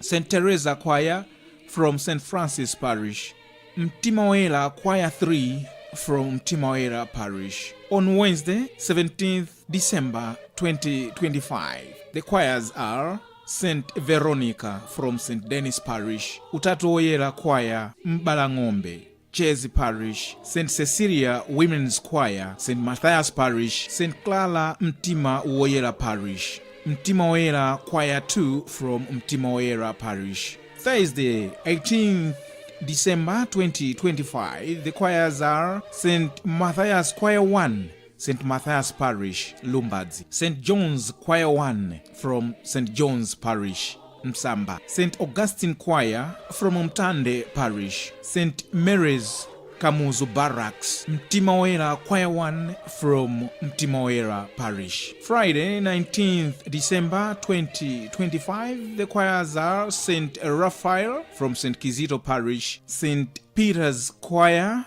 St Teresa choir from St Francis Parish, Mtima Woyera choir 3 from Mtima Woyera Parish. On Wednesday, 17th December 2025, the choirs are St Veronica from St Denis Parish, Utatu Woyera choir, Mbalang'ombe, Chezi Parish, St Cecilia Women's Choir, St Mathias Parish, St Clara Mtima Woyera Parish, Mtima Woyera Choir 2 from Mtima Woyera Parish. Thursday, 18th December 2025. The choirs are St Mathias Choir 1, St Mathias Parish, Lumbadzi. St John's Choir 1 from St John's Parish, Msamba. St Augustine Choir from Mtande Parish. St Mary's Kamuzu Barracks, Mtima Woyera Choir 1 from Mtima Woyera Parish. Friday, 19th December 2025, the choirs are St. Raphael from St. Kizito Parish, St. Peter's Choir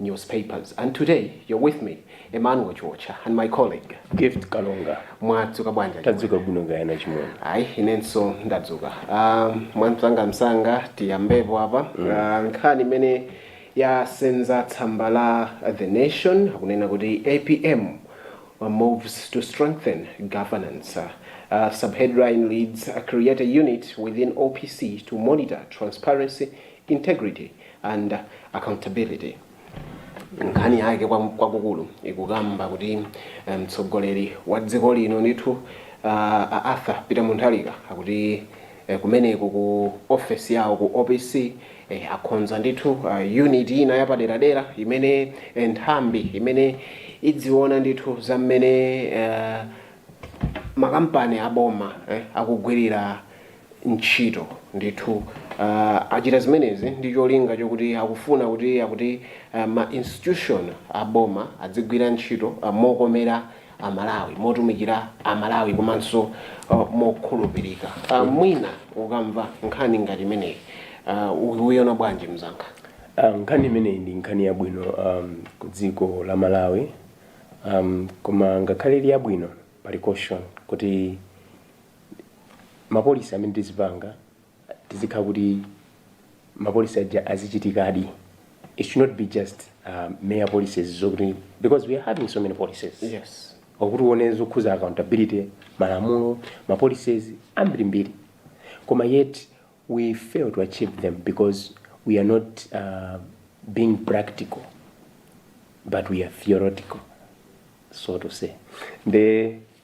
newspapers and today you're with me Emmanuel Chiotcha and my colleague Gift Kalonga. Mwadzuka bwanji? Tadzuka bwino kaya achimwene. Ayi inenso ndadzuka. Um, mwamsanga msanga tiyambepo apa mm. uh, nkhani imene yasenza tsamba la The Nation akunena kuti APM moves to strengthen governance. Uh, subheadline reads uh, creates a unit within OPC to monitor transparency, integrity and accountability. Nkhani yake kwakukulu ikukamba kuti eh, mtsogoleri wa dziko lino ndithu ah, a Arthur Peter Mutharika akuti eh, kumeneko ku office yawo ku OPC eh, akonza ndithu ah, unit ina yapaderadera imene eh, nthambi imene idziona ndithu za mmene eh, makampani aboma eh, akugwirira ntchito. Ndithu achita zimenezi ndi cholinga chokuti akufuna kuti akuti ma institution a boma adzigwira ntchito mokomera a Malawi, motumikira a Malawi komanso mokhulupirika. Mwina ukamva nkhani ngati imeneyi ukuiona bwanji mzanga? Nkhani imeneyi ndi nkhani yabwino ku dziko la Malawi koma ngakhale ili yabwino pali caution kuti. ma policy amene tizipanga tizikhala kuti ma policy aja azichitikadi it should not be just um, mere policies zokuti because we are having so many policies yes okuti uone zokhuza accountability malamulo ma policies ambirimbiri koma yet we fail to achieve them because we are not uh, being practical but we are theoretical so to say the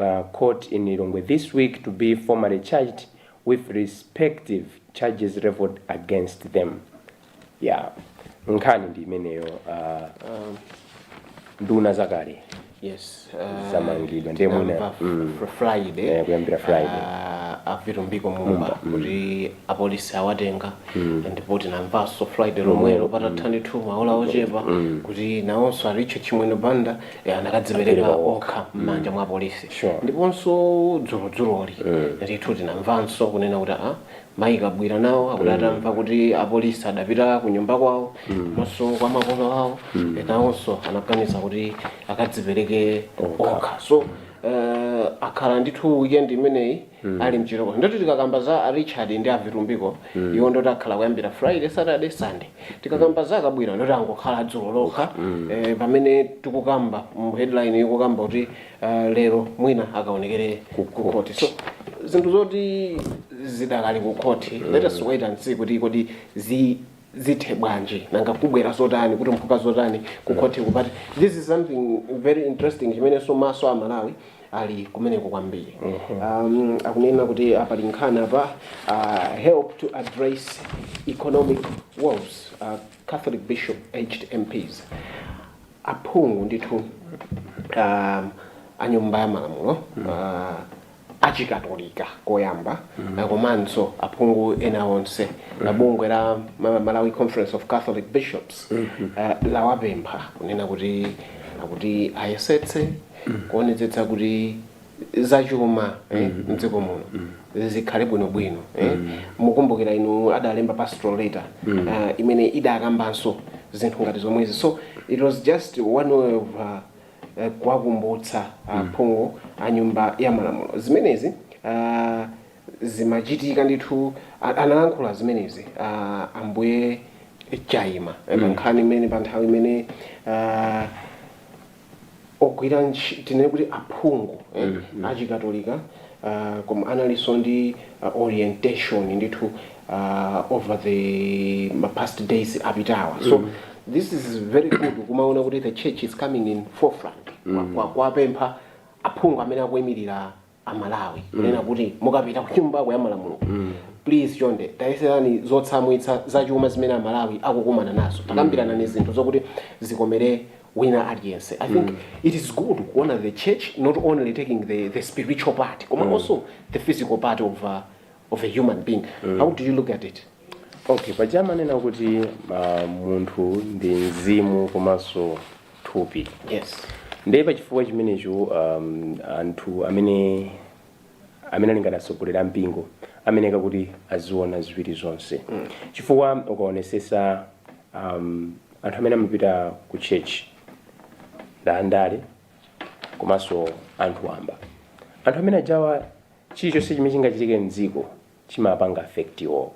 la court in Lilongwe this week to be formally charged with respective charges levelled against them. Yeah. Nkhani ndi imeneyo uh, Um, nduna zakale yes uh, Zamangidwa, ndiye mwina, tinamva mm. fr- friday Eh, kuyambira Friday. uh, a Vitumbiko Mumba kuti apolisi awatenga ndipo tinamvanso Friday lomwelo patatha ndithu maola ochepa kuti nawonso a Richard Chimwendo Banda eh, anakadzipereka Apereka okha. okha m'manja mwa apolisi Sure. ndiponso dzulodzuloli ndithu tinamvanso kunena kuti a mayi Kabwila nawo akuti atamva kuti apolisi adapita ku nyumba kwawo ndiponso kwa makolo awo nawonso anaganiza kuti akadzipereke okha so eh, akhala ndithu weekend imeneyi mm. ali mchitokosi ndoti tikakamba za a Richard ndi a Vitumbiko mm. iwo ndoti akhala kuyambira Friday Saturday Sunday tikakamba mm. za a Kabwila ndoti angokhala dzulo lokha mm. eh, pamene tikukamba mu headline ikukamba kuti uh, lero mwina akaonekere kukhoti so zinthu zoti zidakali kukhoti mm. let us wait and see kuti kodi zi zithe bwanji nanga kubwera zotani kutumphuka zotani kukhotiku but this is something very interesting chimenenso maso a Amalawi ali kumeneko kwambiri um, akunena kuti aa pali nkhani apa uh, help to address economic woes uh, Catholic bishop urged MPs aphungu ndithu um, a nyumba ya malamulo uh, achikatolika koyamba uh, komanso aphungu ena onse la bungwe la Ma- Malawi Conference of Catholic Bishops uh, lawapempha kunena kuti ayesetse kuonetsetsa kuti zachuma eh, mdziko muno zikhale bwinobwino eh. mukumbukira inu adalemba pastoral letter uh, imene idakambanso zinthu ngati zomwezi so it was just one way of uh, eh, kuwakumbutsa aphungu a nyumba ya malamulo zimenezi ah, zimachitika ndithu a- analankhula zimenezi ah, ambuye chaima pa nkhani imene pa nthawi imene ah, ogwira tinene kuti aphungu eh, achikatolika ah, koma analinso ndi ah, orientation ndithu uh, over the ma past days apitawa so this is very good kumaona kuti the church is coming in forefront Kwa- kwa- kuwapempha aphungu amene akuimirira amalawi kunena kuti mukapita kunyumba ya malamulo please chonde tayeserani zotsamwitsa zachuma zimene amalawi akukumana nazo takambiranani zinthu zokuti zikomere wina aliyense i think it is good kuona the church not only taking the, the spiritual part koma also the physical part of uh, of a human being mm. how do you look at it okay paja amanena kuti uh, munthu ndi mzimu komanso thupi yes ndiye pachifukwa chimenecho um, anthu amene ali ngati atsogoleri a mpingo amayeneka kuti aziona ziwiri zonse mm. chifukwa ukaonesesa um, anthu amene amapita ku church ndaandale komanso anthu wamba anthu amene ajawa chilichonse chimene chingachitike mdziko chimawapanga affect iwowo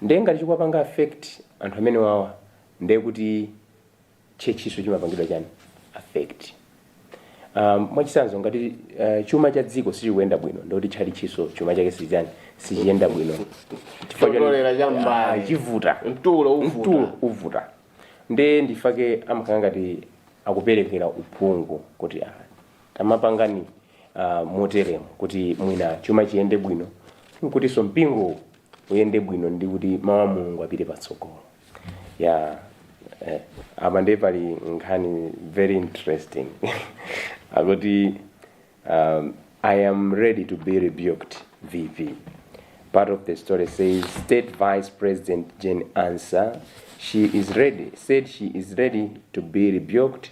nde ngati chikuwapanga affect anthu amenewawa nde kuti churchinso chimapangidwa chani affect um, mwachisanzo ngati uh, chuma cha dziko sichikuyenda bwino ndikuti tchalitchinso chuma chake sichani sichiyenda bwino Chifukwa chani? Chopereka cha m'mbale. Ah, chivuta Mtulo uvuta. mtulo uvuta nde nchifake amakhala ngati akuperekera uphungu kuti ah, Tamapangani moteremu kuti mwina chuma chiyende bwino nkutinso mpingo uyende bwino ndi kuti mau a Mulungu apite patsogolo. Yeah eh, apa ndiye pali nkhani very interesting akuti um, I am ready to be rebuked VP. Part of the story says State Vice President Jane Ansah, said she is ready to be rebuked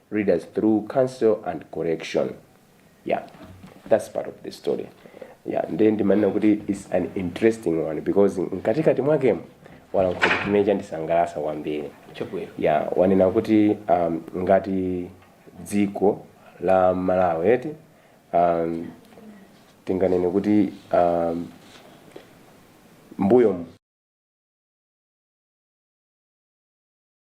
readers through counsel and correction yeah that's part of the story yeah nde ndimanena kuti its an interesting one because mkatikati mwakemo alankhula chimene chandisangalatsa kwambiri chabwino yeah anena kuti um, ngati dziko la malawi eti um, tinganene kuti um, m'mbuyo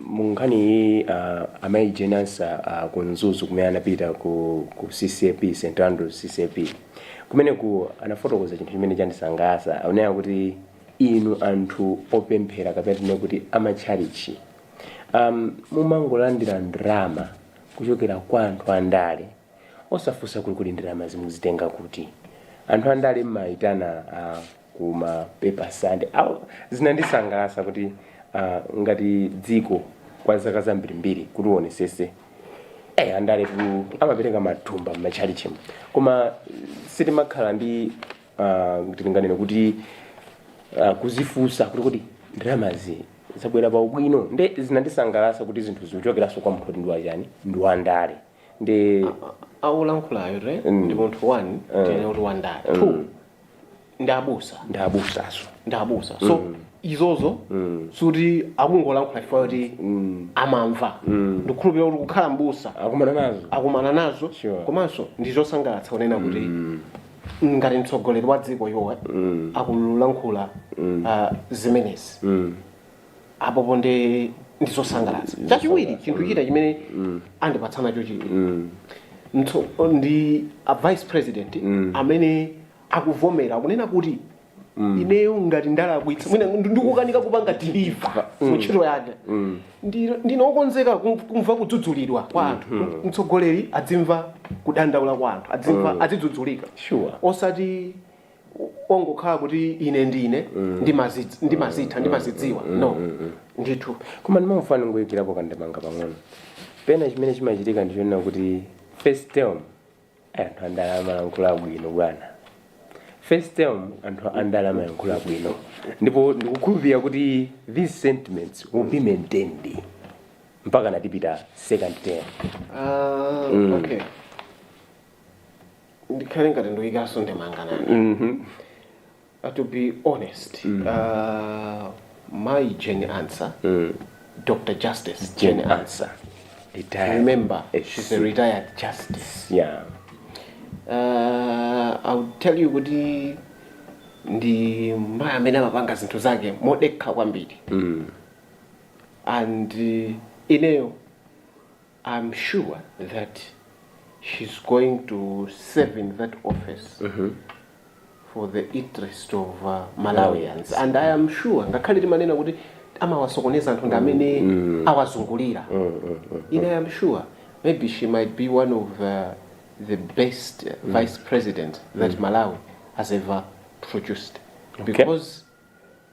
Munkhani iyiyi Amayi Jane Ansah ku Mzuzu kumene anapita ku ku CCAP, St Andrews CCAP, kumeneku anafotokoza chinthu chimene chandisangalatsa. Akunena kuti inu anthu opemphera kapena tinene kuti a matchalitchi um, mumangolandira ndalama kuchokera kwa anthu andale osafunsa kuti kodi ndalamazi mukuzitenga kuti. Anthu andale mmayitana a kuma Paper Sunday awo zinandisangalasa kuti uh, ngati dziko kwa zaka zambirimbiri kuti uonesese eh, andale tu amapereka matumba m'matchalichimu koma sitimakhala ndi uh, tinganene kuti uh, kuzifunsa kuti kodi ndalamazi zabwera pa ubwino nde zinandisangalasa kuti zinthu zikuchokeranso kwa munthu woti ndi wachani ndi wandale nde aulankhulayo re ndi munthu one tinene kuti wandale two ndi abusa ndi abusaso ndi abusa so izozo sikuti akungolankhula chifukwa kuti amamva ndikukhulupirira kuti kukhala mbusa akumana nazo akumana nazo Sure. komanso ndi zosangalatsa kunena kuti ngati mtsogoleri wa dziko iwowa akulankhula ah, zimenezi apopo nde ndi zosangalatsa chachiwiri chinthu china chimene andipatsa nacho chidwi mtso- ndi a vice president amene akuvomera kunena kuti ineyo ngati ndalakwitsa mwina ndi- ndikukanika kupanga deliver mu ntchito yanga Ndi- ndinokonzeka kum- kumva kudzudzulidwa kwa anthu mtsogoleri adzimva kudandaula kwa anthu adzimva azidzudzulika Sure. osati ongokhala kuti ine ndine ndimazidz- ndimazitha ndimazidziwa no ndithu koma ndimafuna ndingoyikirapo kandemanga pang'ono pena chimene chimachitika ndichonena kuti first term anthu andala amayankhula bwino bwana first term anthu andale amalankhula bwino ndipo ndikukhulupirira kuti these sentiments will be maintained mpaka atapita second term Ah, okay ndikhale ngati ndikuyikanso ndemanga nane Mhm. Uh, to be honest uh, mayi Jane Ansah Dr Justice Jane Ansah Retired. remember Yes. she's a retired justice Yeah. uh, i would tell you kuti ndi mayi amene amapanga zinthu zake modekha kwambiri and uh, ineyo I'm sure that she's going to serve in that office mm -hmm. for the interest of uh, Malawians mm. and I am sure ngakhale timanena kuti amawasokoneza anthu ndi amene mm. mm. awazungulira mm, mm, mm, mm. ine I am sure maybe she might be one of uh, the best uh, mm. vice president that mm. Malawi has ever produced okay. because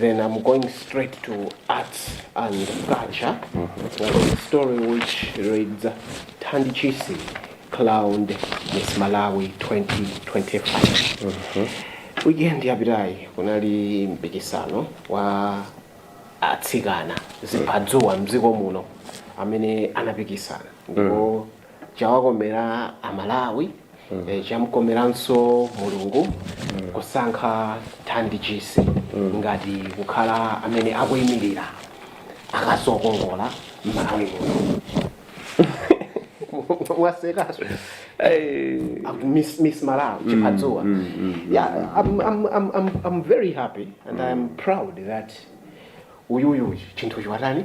then I'm going straight to arts and culture. It's one of the story which reads Thandi Chisi crowned Miss Malawi 2025. Weekend yapitayi kunali mpikisano wa atsikana ziphadzuwa mdziko muno amene anapikisana ndipo chawakomera amalawi eh, chamkomeranso mulungu kusankha thandi chisi ngati kukhala amene akuyimirira akazi okongola mmalawi muno mwasekaso Miss, miss Malawi, Chiphadzuwa. Yeah, I'm, I'm, I'm, I'm, I'm very happy and I'm proud that uyuyu chinthu chiwatani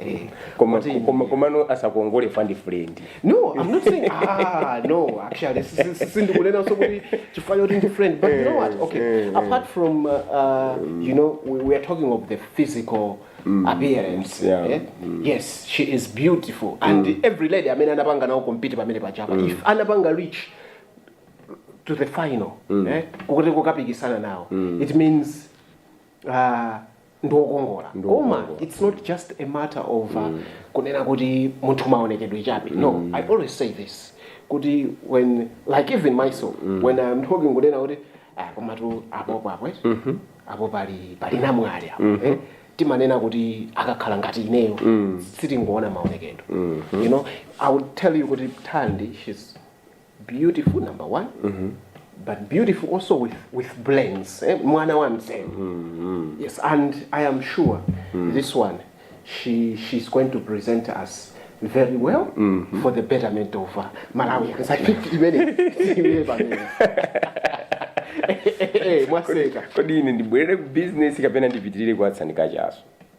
Eh, koma kuti- koma komano asakongole fandi friend no i'm not saying ah no actually si- si- si- sindikunena so kuti chifukwa choti ndi friend but you know what okay apart from uh, uh, you know we, we are talking of the physical appearance Yeah. eh? yes she is beautiful and every lady amene anapanga nawo compete pamene pachapa if anapanga reach to the final eh? kuti kukapikisana nawo it means Aaa ndiwokongola Ndi koma wokongola. its not just a matter of uh, kunena kuti munthu maonekedwe chabe no i always say this kuti when like even myself when i'm talking kunena kuti ah, komatu apopo apo eh? apo pali pali namwali apo eh? timanena kuti akakhala ngati ineyo sitingoona maonekedwe you know i would tell you kuti thandi she's beautiful number one but beautiful also with, with brains eh? mwana wa mzee yes and i am sure this one she, she's going to present us very well for the betterment of uh, malawians i think imene imene pamene Eh, eh, eh, mwaseka kodi ine ndibwerere ku bizinesi kapena ndipitirire kuwa atsikana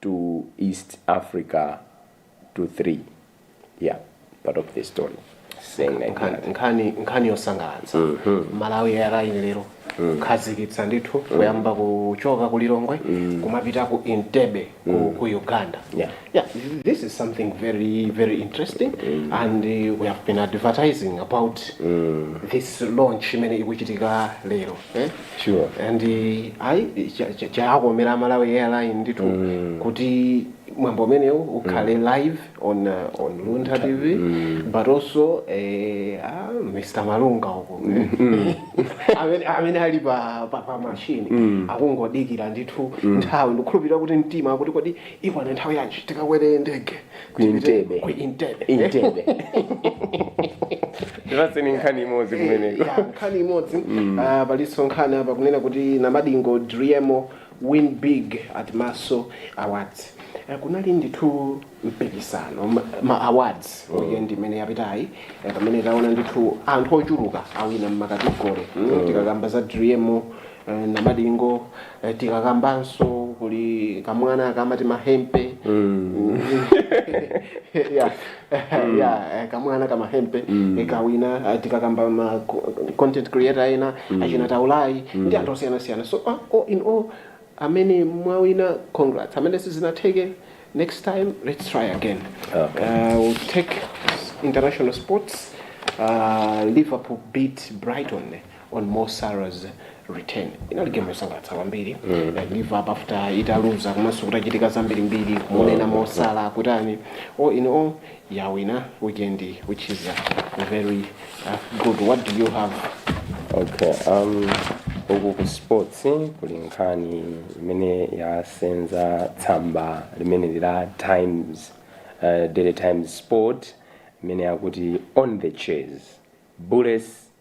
to east africa to 3 yeah part of the story saying like Nkhani- that nkhani nkhani yosangalatsa malawi airline lero kukhazikitsa ndithu kuyamba kuchoka ku lilongwe kumapita ku entebbe ku, ku uganda Yeah. yeah this is something very very interesting and uh, we have been advertising about this launch imene ikuchitika lero eh? sure and eh, ayi cha- cha- chawakomera amalawi airline ndithu kuti mwambo umenewu ukhale live on, uh, on luntha tv but also eh, ah, mr malunga uko amene, amene ali pa, pa, pa mashini akungodikira ndithu nthawi ndikukhulupirira kuti mtima akuti kodi ikwana nthawi yanji tikakwere ndege Ku Entebbe. ku Entebbe. Entebbe. Ndipatseni nkhani imodzi kumeneko. Ya, nkhani imodzi Ah, palinso nkhani apa kunena kuti namadingo driemo win big at maso awards Eh, kunali ndithu mpikisano ma- ma awards weekend imene yapitayi eh, pamene taona ndithu anthu ochuluka awina mmakategori tikakamba za driemo namadingo eh, tikakambanso kuli kamwana kamati mahempe yeah, yeah, eh, kamwana kamahempe eh, kawina eh, tikakamba ma content creator ena achina taulayi ndi anthu osiyanasiyana so ah, all in all amene mwawina congrats amene sizinatheke next time let's try again Okay. uh, we'll take international sports uh, liverpool beat brighton on Mo Salah's return inali game yosangalatsa kwambiri Eh, Liverpool after italuza komanso kutachitika zambiri mbiri kumunena Mo Salah kutani all in all yawina weekend which is uh, very uh, good what do you have okay um uku ku sports kuli nkhani imene yasenza tsamba limene lila times uh, daily times sport imene yakuti on the chase bullets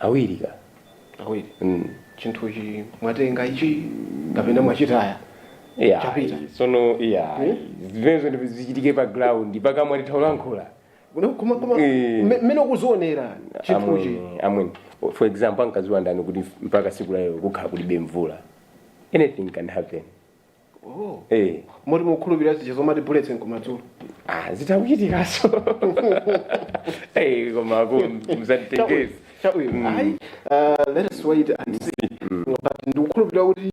awiri ka awiri mm. chinthuchi mwatenga ichi kapena mwachitaya yeah. chapita sono yeah. hmm? zimenezo ndi zichitike pa ground pakamwa titha kulankhula mmene ukuzionera chinthuchi amweni for example ankadziwa ndani kuti mpaka tsiku lalero kukhala kulibe mvula anything can happen Eh, moti mukukhulupirira zija zomati bullets nkumadzulo ah, zitakuchitikaso Eh, koma ku mzatitengezi chabwino ayi uh, let us wait and see but ndikukhulupirira kuti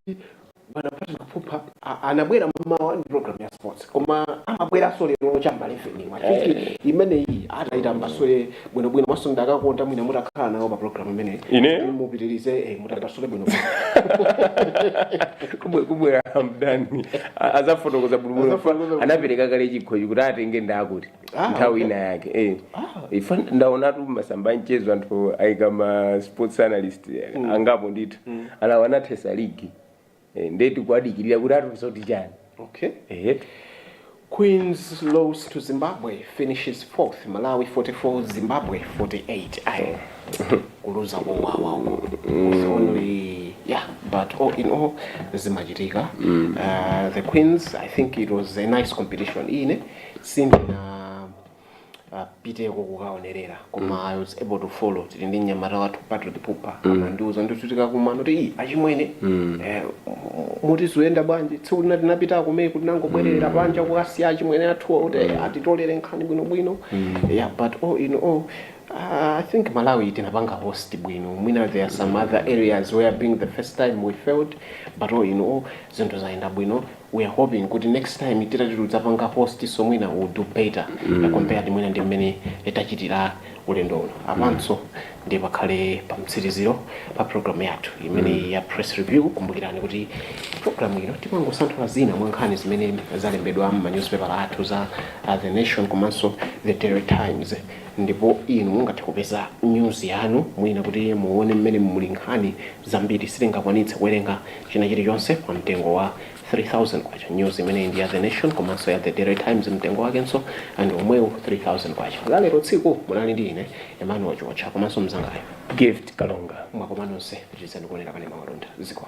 bwana patrick pupa a- anabwera mmawa ndi program ya sports koma amabweranso lero cham'ma eleveni imeneyi ataitambasule bwino bwino moti ndikadakonda mwina mutakhala nawo pa program imeneyi Ine? Kuti mupitirize eh, mutambasule bwino bwino Kubwe- kubwera mdani A- azafotokoza bulubulo Azafotokoza anapereka kale chikhochi kuti atenge ndakuti Ah, nthawi okay. ina yake eh. Ah. ifa ndaonatu masamba amchezo anthu ayika ma sports analyst angapo ndithu amene anathetsa ligi Eh, ndiye tikuwadikirira kuti atiuze kuti chani Okay. ehetu Queens lose to Zimbabwe, finishes fourth. Malawi 44, Zimbabwe 48. Aye. Kuluza kwa wow, wow, wow. It's only, yeah, but all in all, zimachitika. Uh, the Queens, I think it was a nice competition. Ine, sindina apiteko kukaonerera koma mm. i was able to follow tili ndi mnyamata wathu patrick pupa mm. amandiuza ndithu tikakumana kuti iyi achimwene mm. eh, kuti zikuyenda bwanji tsiku lina tinapita kumene koma tinangobwerera panja kukasiya achimwene athuwa kuti eh, atitolere nkhani bwinobwino yeah but all in all Uh, I think Malawi tinapanga host bwino mwina there are some other areas where being the first time we failed but all in all zinthu zayenda bwino we are hoping kuti next time tikati tidzapanga post so mwina we'll do better mm. compared mwina ndi mmene tachitira ulendo uno apanso mm. ndi pakhale pa mtsiriziro pa program yathu imene mm. ya press review kumbukirani kuti program ino timangosanthula zina mwa nkhani zimene zalembedwa mu newspaper athu a uh, the nation komanso the daily times ndipo inu mungathe kupeza news yanu mwina kuti muone mmene muli nkhani zambiri sitingakwanitse kuwerenga china chilichonse pa mtengo wa K3000. News imeneyi ndi ya The Nation komanso ya The Daily Times mtengo wakenso ndi omwewo K3000. La lero tsiku munali ndi ine Emmanuel Chiwotcha komanso mnzangayo Gift Kalonga. Mwakoma nonse pitirizani kuonera kanema wa Malonda ziko.